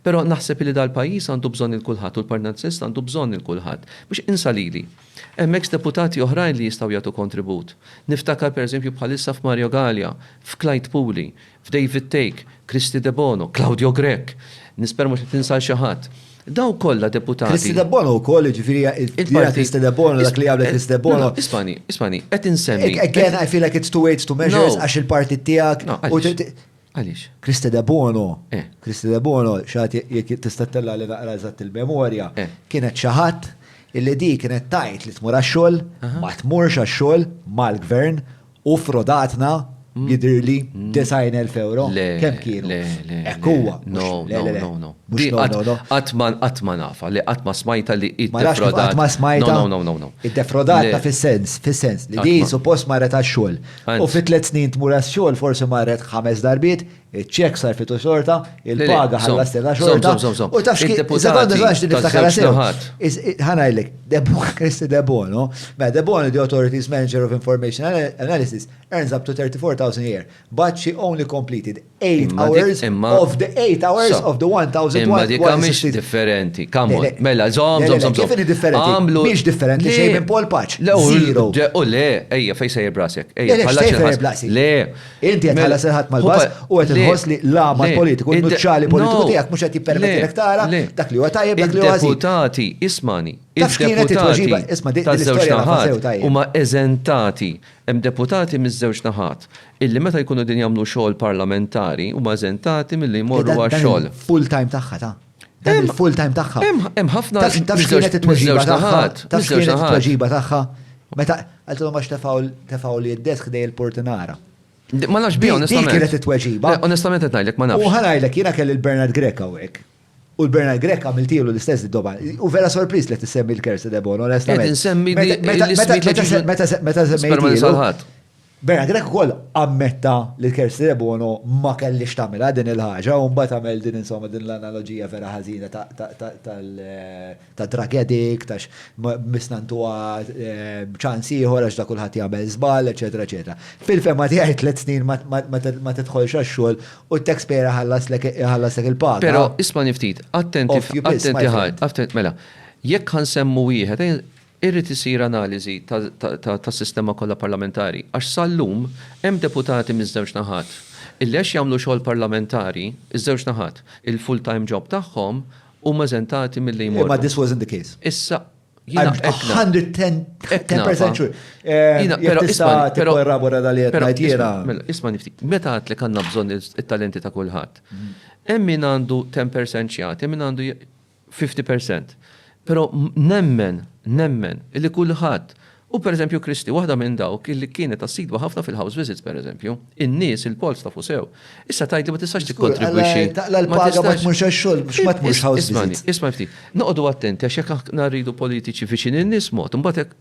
Però naħseb illi dal-pajjiż għandu bżonn lil kulħadd u l-Partit Nazzjonalista għandu bżonn lil kulħadd. Biex insa lili. Hemm eks deputati oħrajn li jistgħu jagħtu kontribut. Niftakar per eżempju bħalissa f'Mario Galea, f'Clyde Puli, f'David Thake, Kristy Debono, Claudio Grech. Nispera mhux qed ninsa 'l xi ħadd. Dawk kollha deputati. Kristy Debono wkoll, jiġifieri hija Kristy Debono, dak li għamlet Kristy Debono. Ismani, ismani, qed insemmi. Again, I feel like it's too late to measure għax il-partit tiegħek. Għaliex? Christe Debono, Christe Debono, xi ħadd jekk tista' ttella' li naqra eżatt il-memorja, kienet xi ħadd illi di kienet tgħid li tmur għax-xogħol, ma tmurx għax-xogħol mal-Gvern u ffrodatna jidhirli 90,000 ewro. Kemm kienu? Le, le, le. Hekk huwa. No, no, no, no. Mhux no, no, no. Qatt ma qatt ma nafha, le qatt ma smajtha li hi ddefrodat. Qatt ma smajtha. No, no, no, no. Iddefrodatna fis-sens, fis-sens li di suppost marret għax-xogħol. U fi tliet snin tmur għax-xogħol forsi marret ħames darbiet, iċ-ċekk sarfitu xorta, il-paga ħalla stella xorta. U taf xi sekonda żgħax din niftakarha sew. Ħanajlek, Kristi Debono, mela Debono the Authorities Manager of Information Analysis earns up to 34,000 a year, but she only completed 8 hours of the 8 hours of the 1000 Imma dika mhix differenti. Kamon, mela, zom, zom, zom. Kif differenti? Għamlu. Mhix differenti xejn minn Paul Paċ. Zero. U le, ejja, fej sejjer brasek. Ejja, bħala sejjer brasek. Le. Inti qed ħalla serħat mal-bas u qed inħoss li l-għama politiku, l-nuċċali politiku tiegħek mhux qed jippermetti lek tara dak li huwa tajjeb dak li huwa Deputati, ismani, il-deputati ta' żewġ naħat huma eżentati hemm deputati miż-żewġ naħat. illi meta jkunu qegħdin jagħmlu xogħol parlamentari huma eżentati milli jmorru għax-xogħol. Dan il-full time tagħha ta'. Dan il-full time tagħha. Hemm ħafna Taf x'kienet it-tweġiba tagħha? Taf x'kienet it-tweġiba tagħha? Meta għaltilhom għax tefgħu li d-desk dej il-portinara. Ma nafx bi onestament. Dik kienet it-tweġiba. Onestament qed ngħidlek ma nafx. U ħanajlek jiena kelli l-Bernard Grek hawnhekk. U l-Bernard Grek għamiltilu l-istess id-doba. U vera sorpriż li tissemmi l-kersi debon, onestament. Meta semmejtilu. Bernard Grech ukoll ammetta li l-Kerstiere Bono ma kellhiex tagħmilha din il-ħaġa u mbagħad għamel din insomma din l-analoġija vera ħażina tad-drug addict għax missna ntuha ċans ieħor għax da kulħadd jagħmel żball, eċċetera eċċetera. Fil-fehma tiegħi tliet snin ma tidħolx għax-xogħol u t-taxpayer iħallaslek il-paga. Però ismagħni ftit, attenti, attenti ħaj, mela, jekk ħa nsemmu wieħed, Irid isir analiżi tas-sistema kollha parlamentari għax sal-lum hemm deputati miż-żewġ naħat illi għax jagħmlu xogħol parlamentari, iż-żewġ naħat, il-full time job tagħhom, huma eżentati milli jmorru. Imma this wasn't the case. Issa, jiena qed ngħid. 110% sure. Jiena però isma' tikkorrabora dan li qed ngħid jiena. Mela, isma' niftit. Meta għedtlek għandna bżonn it-talenti ta' kulħadd. Hemm min għandu 10% x'jagħti, hemm min għandu fifty percent. Però nemmen, nemmen, illi kulħadd, u pereżempju Kristi waħda minn dawk illi kienet assidwa ħafna fil-house visits pereżempju, in-nies, il-polls tafu sew. Issa tgħidli ma tistax tikkontribwixxi. Taqla' l-paga ma tmurx għax-xogħol biex ma tmurx house visits. Ismagħni, isma' ftit. Noqogħdu attenti għax jekk aħna rridu politiċi viċin in-nies mod, imbagħad hekk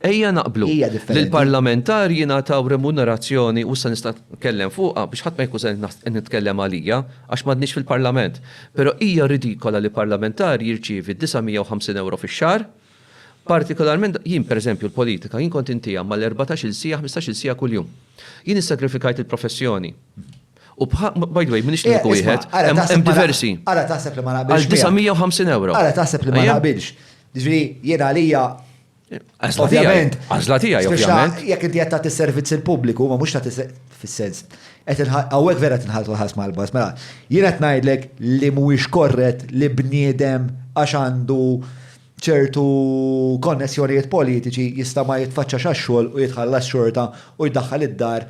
Ejja naqblu li l-parlamentari jingħataw remunerazzjoni, u issa nista' nitkellem fuqha biex ħadd ma jkun se qed nitkellem għalija, għax m'għadniex fil-parlament, però hija ridikola li parlamentari jirċievi 950 ewro fix-xahar, partikolarment, jien pereżempju l-politika, jien kont intiha mal-erbatax-il siegħa, ħmistax-il siegħa kuljum. Jien issagrifikajt il-professjoni. U by the way, m'iniex l-uniku wieħed, hemm diversi. Ara taħseb li ma naqbilx. Għal 950 ewro. Ara taħseb li ma naqbilx. Jiġri jiena għalija Ovvjament. Għazla tijaj, ovvjament. Jek inti għatta t-servizz il-publiku, ma mux ta' fil-sens. Għawek vera t-nħal l-ħas mal-bas, mela, jina t-najdlek li mux korret li bniedem għax għandu ċertu konnessjonijiet politiċi jista ma jitfacċa xaxxol u jitħallas xorta u jdaħħal id-dar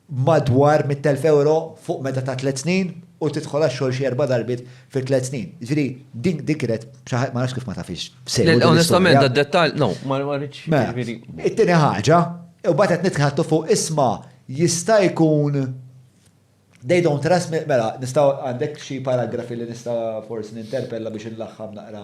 b'madwar mitt elf ewro fuq meda ta' tliet snin u tidħol għax-xogħol xi erba' darbiet fi tliet snin. Jiġifieri din din kienet xi ħa ma nafx kif ma tafhiex sew din l-istorja. Onestament dad-dettall, no, ma ma rridx, jiġifieri. It-tieni ħaġa, u mbagħad qed nitħattu fuq isma' jista' jkun they don't trust me, mela nistgħu għandek xi paragrafi li nista' forsi ninterpella biex inlaħħam naqra.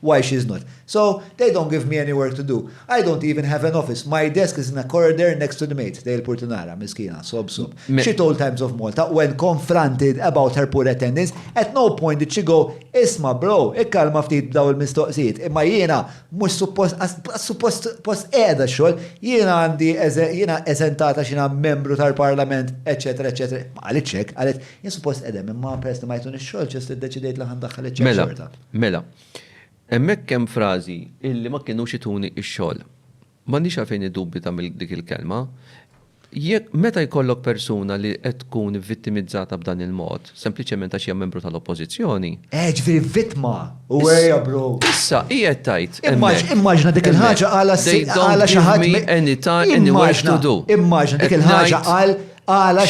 Why she's not. So, they don't give me any work to do. I don't even have an office. My desk is in a corrider next to the maid, tgħid il-purtunara, miskina, sob sob. She told Times of Malta when confronted about her poor attendance, at no point did she go, Isma' bro, ikkalma ftit b'dawn il-mistoqsijiet, imma jiena mhux suppost, laqqas suppost post qiegħda x-xogħol, jiena għandi, jiena eżentata x'jiena membru tal-Parlament, eċċetera, eċċetera. Ma qalitx hekk, qalet, jien suppost qegħda hemm imma peress li ma jtunix xogħol, just iddeċidejt li ħa ndaħħal iċ-ċekk xorta. Mela, hemmhekk hemm frażi illi ma kinux ituni x-xogħol. M'għandix għalfejn iddubita minn dik il-kelma. Jekk, meta jkollok persuna li qed tkun vittimizzata b'dan il-mod, sempliċement għax hija membru tal-Oppożizzjoni. Eh, ġifieri vittma! Uwejja, bro! Issa, hi qed tgħid hemmhekk. Immaġina dik il-ħaġa qalha xi ħadd. They don't give me any time, any work to do. Immaġina dik il-ħaġa qal, qalha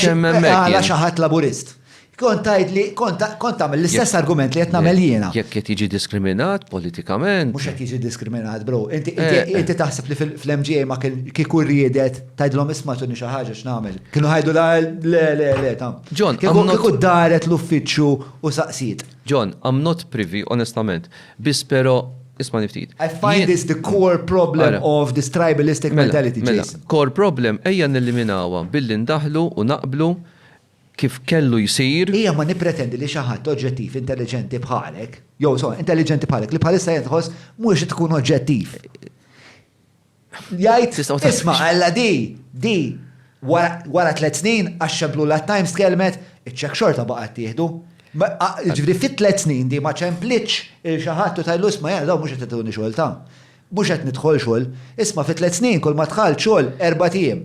xi ħadd Laburist. Kont tajt li kont tagħmel l-istess argument li qed nagħmel jiena. Jekk qed jiġi diskriminat politikament. Mhux qed jiġi diskriminat, bro. Inti eh, eh. taħseb li fl-MGA ma kieku riedet tgħidilhom isma' tuni xi ħaġa x'nagħmel. Kienu ħajdu la le le le ta'. John, kieku daret l-uffiċċju u saqsiet. John, I'm not privy, onestament. Biss però isma' niftit. I find this the core problem of this tribalistic mela, mentality. Mela, core problem ejja nilliminawha billi ndaħlu u naqblu kif kellu jsir. Hija ma nippretendi li xi ħadd oġġettiv, intelliġenti bħalek, jew insomma, intelliġenti bħalek, li bħalissa qiegħed iħoss mhux tkun oġġettiv, jgħid, isma' alla di, di, wara, wara tliet snin, għax ċemplulha t-Times tkellmet, iċ-cheque xorta baqa' ttieħdu. Jiġifieri fi tliet snin di ma ċemplitx lil xi ħadd u tgħidlu isma' jara dawn mhux qed ituni xogħol ta'. Mhux qed nidħol xogħol. Isma' fi tliet snin kull ma dħalt xogħol erbat ijiem.